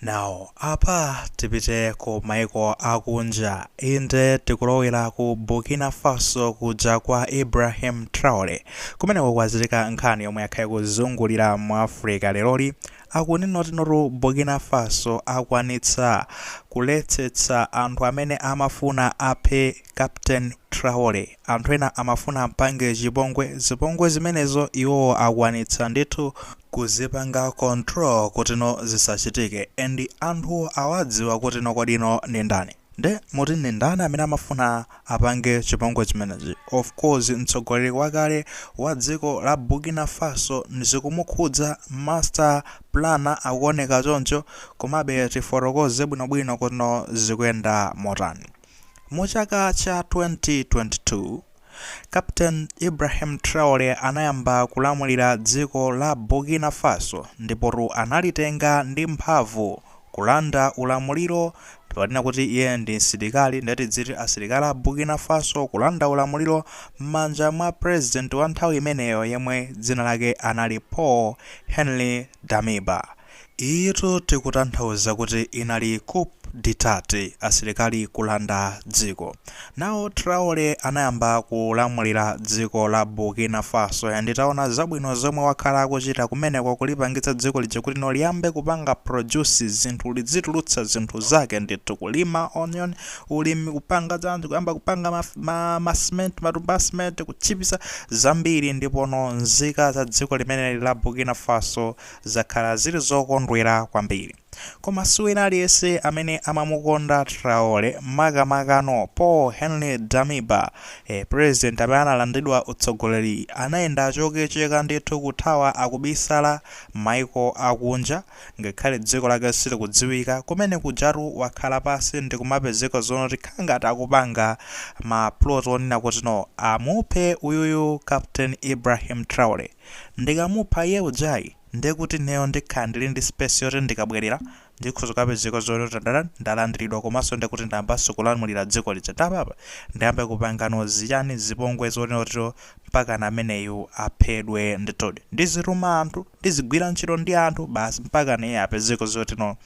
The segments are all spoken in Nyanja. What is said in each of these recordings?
Now apa tipite ku maiko akunja, inde tikulowera ku Burkina Faso kuja kwa Ibrahim Traore, kumeneko kwachitika nkhani yomwe yakhala ikuzungulira mu Africa leroli, akunena kuti notu Burkina Faso akwanitsa kuletsetsa anthu amene amafuna aphe Captain Traore. Anthu ena amafuna ampange chipongwe, zipongwe zimenezo iwo akwanitsa ndithu kuzipanga control kutino zisachitike and anthu awadziwa kutino kodino ndi ndani. Nde muti ndi ndani amene amafuna apange chipongwe chimenechi? Of course mtsogoleri wakale wa dziko la Burkina Faso zikumukhudza master planner akuoneka choncho, komabe tifotokoze bwinobwino kutino zikuyenda motani. Mu chaka cha 2022, Captain Ibrahim Traore anayamba kulamulira dziko la Burkina Faso ndipotu analitenga ndi mphamvu, kulanda ulamuliro, tikanena kuti iye ndi msilikali nde tidziti asilikali a Burkina Faso kulanda ulamuliro m'manja mwa president wa nthawi imeneyo yemwe dzina lake anali Paul Henri Damiba. Iyitu tikutanthauza kuti inali coup d'etat, asilikali kulanda dziko. Now Traore anayamba kulamulira dziko la Burkina Faso and taona zabwino zomwe wakhala akuchita kumeneko kulipangitsa dziko lija kuti no liyambe kupanga produce zinthu lidzitulutsa zinthu zake ndithu kulima onion ulimi kupanga chani kuyamba kupanga ma ma ma cement matumba a cement kutchipitsa zambiri ndipo no nzika za dziko limeneli la Burkina Faso Zakhala zili zokondwera kwambiri. Koma si wina aliyense amene amamukonda Traore, makamakano Paul-Henri Damiba, eh, president amene analandidwa utsogoleri anayenda chothetheka ndithu kuthawa akubisala maiko akunja, ngakhale dziko lake silikudziwika, kumene kujatu wakhala pansi ndikumapezeka zonoti khala ngati akupanga ma plot onena kuti no, amuphe uyuyu Captain Ibrahim Traore. Ndikamupha iye ujayi ndiye kuti ineyo ndikhala ndili ndi space yoti ndikabwelera ndikhoza kukapezeka zoti tatani ndalandiridwa komanso ndiye kuti ndayambanso kulamulira dziko lija nde apapa ndiyambe kupangano chani zipongwe zonena kutino mpakana ameneyu aphedwe ndithudi ndizituma anthu ndizigwira ntchito ndi anthu basi mpakana iye apezeke zoti no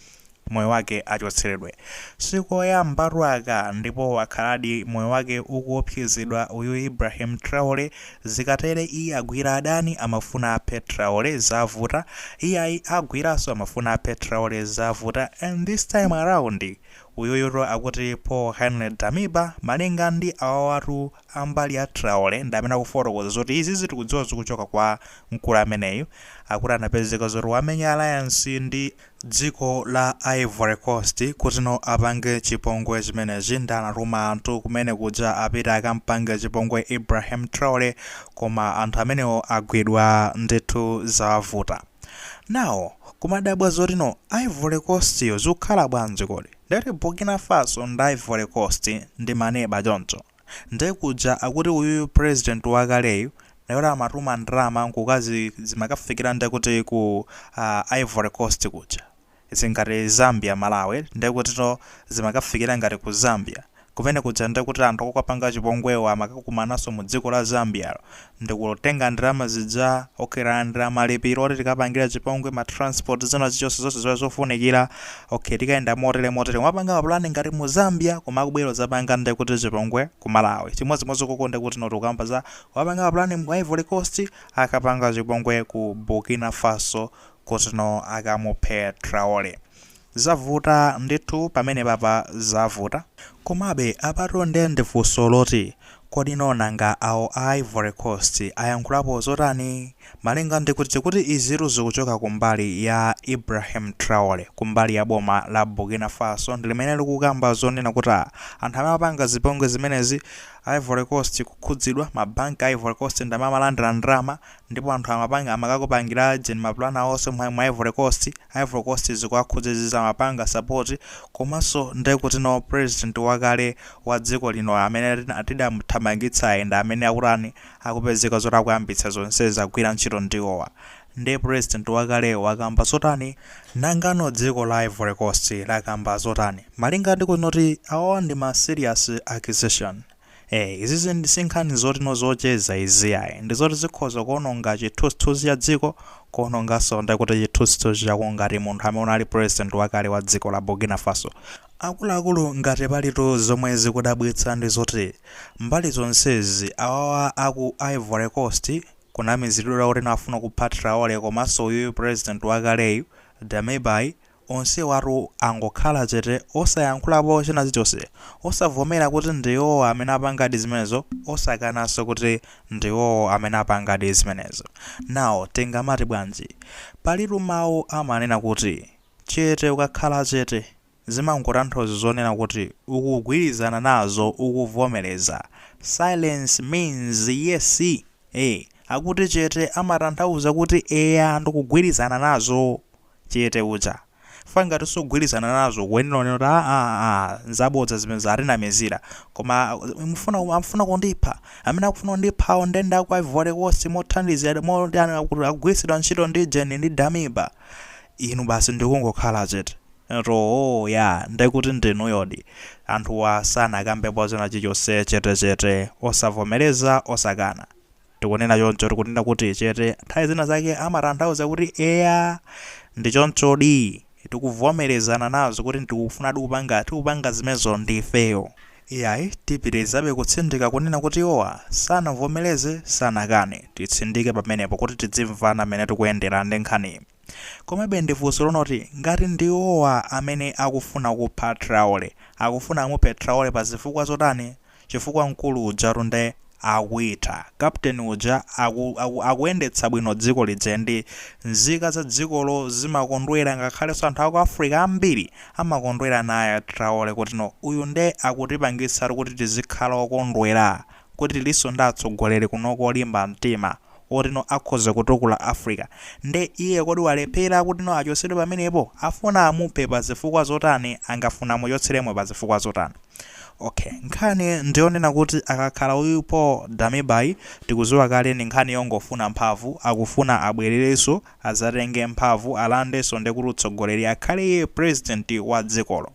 moyo wake achotseredwe. Sikoyambatu aka ndipo wakhaladi moyo wake ukuopsezedwa uyu Ibrahim Traore zikatere iye agwira adani amafuna aphe Traore zavuta iyayi agwiranso amafuna aphe Traore zavuta and this time around uyuyutu akuti Paul Henry Damiba malinga ndi awawatu ambali ya Traore ndi amene akufotokoza zoti izizi tikudziwa zikuchoka kwa mkulu ameneyu akuti anapezeka zoti wamenya alliance ndi Dziko la Ivory coast kuti no apange chipongwe chimenechi nde anatuma anthu kumene kuja apite akampange chipongwe Ibrahim Traore koma anthu amenewo agwidwa ndithu zavuta now kumadabwa zotino Ivory coast yo zikukhala bwanji kodi? Ndati Burkina Faso ndi Ivory coast ndi maneba choncho? Nde kuja akuti uyuyu president wakaleyu akuti amatuma ndalama nkumakazi zimakafikila nde kuti ku ivory coast kuja zili ngati zambia malawi nde kutino zimakafikila ngati ku zambia kumene kuja nde kuti anthu okapanga chipongwewo amakakumanaso mu dziko la zambialo ndikutenga ndalama zija ok talandira malipiro oti tikapangira chipongwe ma transport china chilichonse chofunikira ok tikayenda motere motere kumapanga ma plan ngati mu Zambia koma akubwera kudzapanga nde kuti chipongwe ku Malawi chimodzimodzi koko nde kuti no tikukamba za wapanga ma plan mu Ivory Coast akapanga chipongwe ku Burkina Faso kuti no akamuphe Traore Zavuta ndithu pamenepapa zavuta. Komabe apatu nde ndi funso loti, kodino nanga awo a Ivory Coast ayankhulapo zotani? Malinga ndi kuti izitu zikuchoka kumbali ya Ibrahim Traore kumbali ya boma la Burkina Faso ndi limene likukamba zonena kuti anthu amapanga zipongwe zimenezi Ivory Coast kukhudzidwa, ma bank a Ivory Coast ndi amene amalandira ndalama, ndipo anthu amapanga amakapangila jen ma plan awo onse mu ivory coast, ivory coast zikuwakhudza izizi amapanga support, komanso nde kuti no president wakale wa dziko lino amene tidamuthamangitsayu ndi amene akutani akupezeka zoti akuyambitsa zonsezi agwira ntchito ndiwowa, nde president wakaleyo wakamba zotani? Nangano dziko la ivory coast lakamba zotani? Malinga ndi kuti noti awawa ndi ma serious accusation. Eee izizi ndi sinkhani zoti no zocheza izi ayi ndizoti zikhoza kuononga chithunzithunzi cha dziko kuononganso nde kuti chithunzithunzi chako ngati munthu amene unali president wakale wa dziko la Burkina Faso. Akuluakulu ngati palitu zomwe zikudabwitsa ndi zoti mbali zonsezi awawa aku Ivory Coast kunamizilidwa kuti no afuna kupha Traore komanso uyuyu president wakaleyu Damibayu Onsewatu angokhala chete osayankhulapo china chilichonse, osavomera kuti ndi iwowo amene apangadi zimenezo, osakananso kuti ndi iwowo amene apangadi zimenezo. Now tingamati bwanji? Palitu mawu amanena kuti, Chete ukakhala chete, zimangotanthauza zonena kuti ukugwirizana nazo, ukuvomereza. Silence means yes! Eeh, akuti chete amatanthauza kuti eya ndikugwirizana nazo! chete uja. Chifukwa ngati sukugwirizana nazo ukuyenera unene kuti aa nzabodza zimenezo atinamizira. Koma amafuna kundipha. Amene akufuna kundiphawo nde ndi aku Ivory Coast mothandizira moti akugwiritsidwa ntchito ndi Jeni ndi Damiba. Inu basi ndikungokhala chete. Nati ooh yaa ndekuti ndinuyodi. Anthuwa sanakambepo china chilichonse chete chete osavomereza osakana. Tikunena choncho tikunena kuti chete, nthawi zina zake amatanthauza kuti eya, ndi chonchodi, tikuvomerezana nazo kuti tikufunadi kupanga, tikupanga zimenezo ndi ifeyo. Iyayi, tipitirizabe kutsindika kunena kuti iwowa sanavomereze, sanakane. Titsindike pamenepo kuti tidzimvana mmene tikuyendera ndi nkhaniyi. Komabe ndi funso lonena kuti ngati ndi iwowa amene akufuna kupha Traore, akufuna amuphe Traore pa zifukwa zotani? Chifukwa mkulu ujatu nde akuitha, captain uja aku aku akuyendetsa bwino dziko lija and nzika za dzikolo zimakondwera ngakhalenso anthu aku Africa ambiri amakondwera naye Traore kuti no uyu nde akutipangitsatu kuti tizikhala okondwera kuti tilinso ndi atsogoleri kunoko olimba mtima otino akhoza kutukula Africa nde iye kodi walephera kutino achotsedwe pamenepo? Afuna amuphe pa zifukwa zotani? Angafuna amuchotseremo pa zifukwa zotani? Ok nkhani ndiyonena kuti akakhala uyu Paul Damiba tikuziwa kale ndi nkhani yongofuna mphamvu akufuna abwererenso azatenge mphamvu alandenso ndekuti utsogoleri akhale iye president wa dzikolo.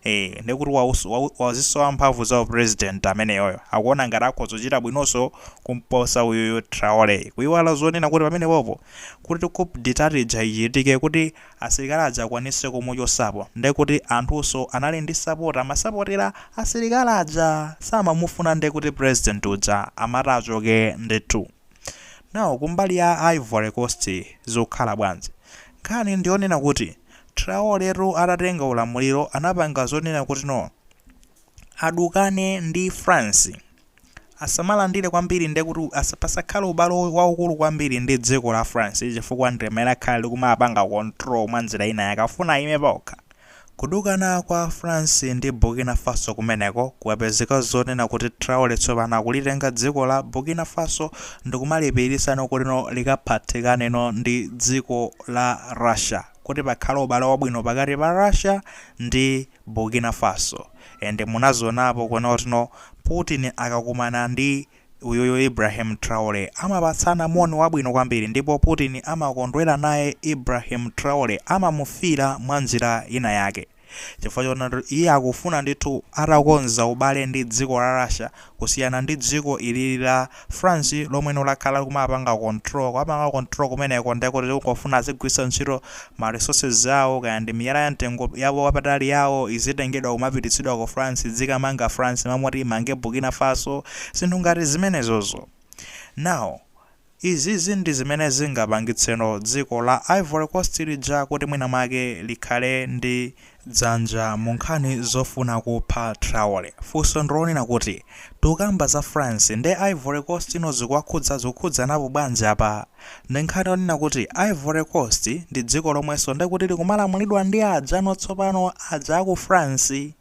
ee ndekuti waus- wau- wazisowa mphamvu za upresident ameneyoyo akuona ngati akhoza kuchita bwinonso kumposa uyuyu traore kuiwala zonena kuti pamenepopo kuti coup detat ija ichitike kuti asilikali aja akwanise kumuchotsapo ndekuti anthunso anali ndi support amasapotera asilikali aja samamufuna ndekuti president uja amati achoke ndithu now kumbali ya ivory coast zikukhala bwanji nkhani ndiyonena kuti Traoretu atatenga ulamuliro anapanga zonena kuti no. adukane ndi France. Asamalandire kwambiri ndekuti asa- pasakhale ubale wa- waukulu kwambiri ndi dziko la France chifukwa ndi limene lakhala likumapanga control mwa njira ina yake afuna ayime paokha. Kudukana kwa France ndi Burkina Faso kumeneko kwapezeka zonena kuti Traore tsopano akulitenga dziko la Burkina Faso ndikumalipirisano kuti no likaphatikane no ndi dziko la Russia kuti pakhale ubale wabwino pakati pa Russia ndi Burkina Faso and munazionapo kunena kuti no Putin akakumana ndi uyuyu Ibrahim Traore amapatsana moni wabwino kwambiri ndipo Putin amakondwera naye Ibrahim Traore amamufila mwanjira ina yake chifukwa choona kuti iye akufuna ndithu atakonza ubale ndi dziko la Russia kusiyana ndi dziko ilili la France lomweno lakhala likumapanga control, kumapanga control kumeneko ndiye kuti likungofuna azigwiritsa ntchito ma resources awo kaya ndi miyala ya mtengo wapatali yawo izitengedwa kumapititsidwa ku France idzikamanga France m'malo moti imange Burkina Faso zinthu ngati zimenezozo. Now, Izizi ndi zimene zingapangitseno dziko la Ivory Coast lija kuti mwina mwake likhale ndi dzanja mu nkhani zofuna kupha Traore. Funso ndi lonena kuti, tikukamba za France ndi Ivory Coast ino zikuwakhudza, zikukhudzanapo bwanji apa? Ndi nkhani yonena kuti Ivory Coast ndi dziko lomwenso ndekuti likumalamulidwa ndi ajano tsopano, aja a ku France.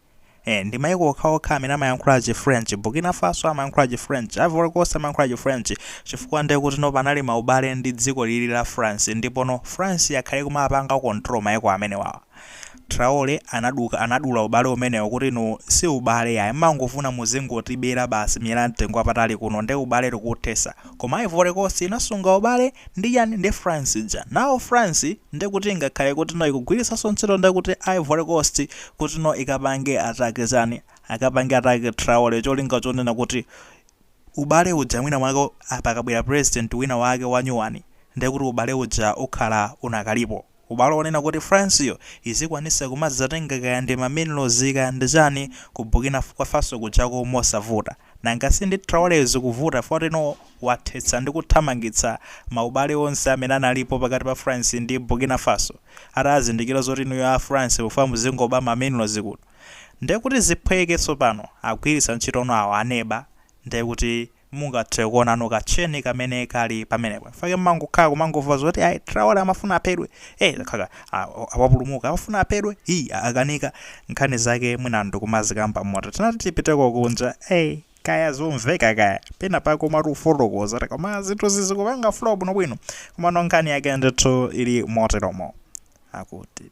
Eh, ndi maiko okhaokha amene amayankhula chi french burkina faso amayankhula chi french ivory coast amayankhula chi french chifukwa ndiye kuti no panali maubale ndi dziko lili la france ndipo no france yakhala ikumapanga control maiko amenewawa traore anaduka anadula ubale umenewo kuti no si ubale yayi mmangofuna muzingotibera basi miyala ya mtengo wapatali kuno nde ubale tikuthesa Koma Ivory Coast inasunga ubale ndi ndani ndi France ija. Now France ndekuti ingakhale kutino ikugwiritsanso ntchito ndekuti Ivory Coast kutino ikapange attack chani, akapange attack Traore cholinga chonena kuti ubale uja mwina mwake pakabwera president wina wake wanyuwani ndekuti ubale uja ukhala unakalipo. Ubale onena kuti France yo izikwanisa kumadzatenga kaya ndi ma minerals kaya ndi chani ku Burkina Faso kujako mosavuta. Nanga si ndi Traore zikuvuta poti no wathetsa ndi kuthamangitsa ma ubale onse amene analipo pakati pa France ndi Burkina Faso atazindikira zoti inuyo a France mufuna muzingoba ma minerals kuno. Ndekuti ziphweke tsopano agwiritsa ntchitono awa aneba ndekuti mungathe kuonano ka chain kamene kali pamenepo in fact mumangokhala kumangomva zoti ayi traore amafuna aphedwe hey zakanika ah, wapulumuka amafuna aphedwe hi akanika nkhani zake mwina sitikumazikamba moti tinati tipiteko kunja hey kaya zomveka kaya pena pake umati ufotokoze koma zinthu sizikupanga flow bwinobwino komano nkhani yake ndithu ili moteromo akuti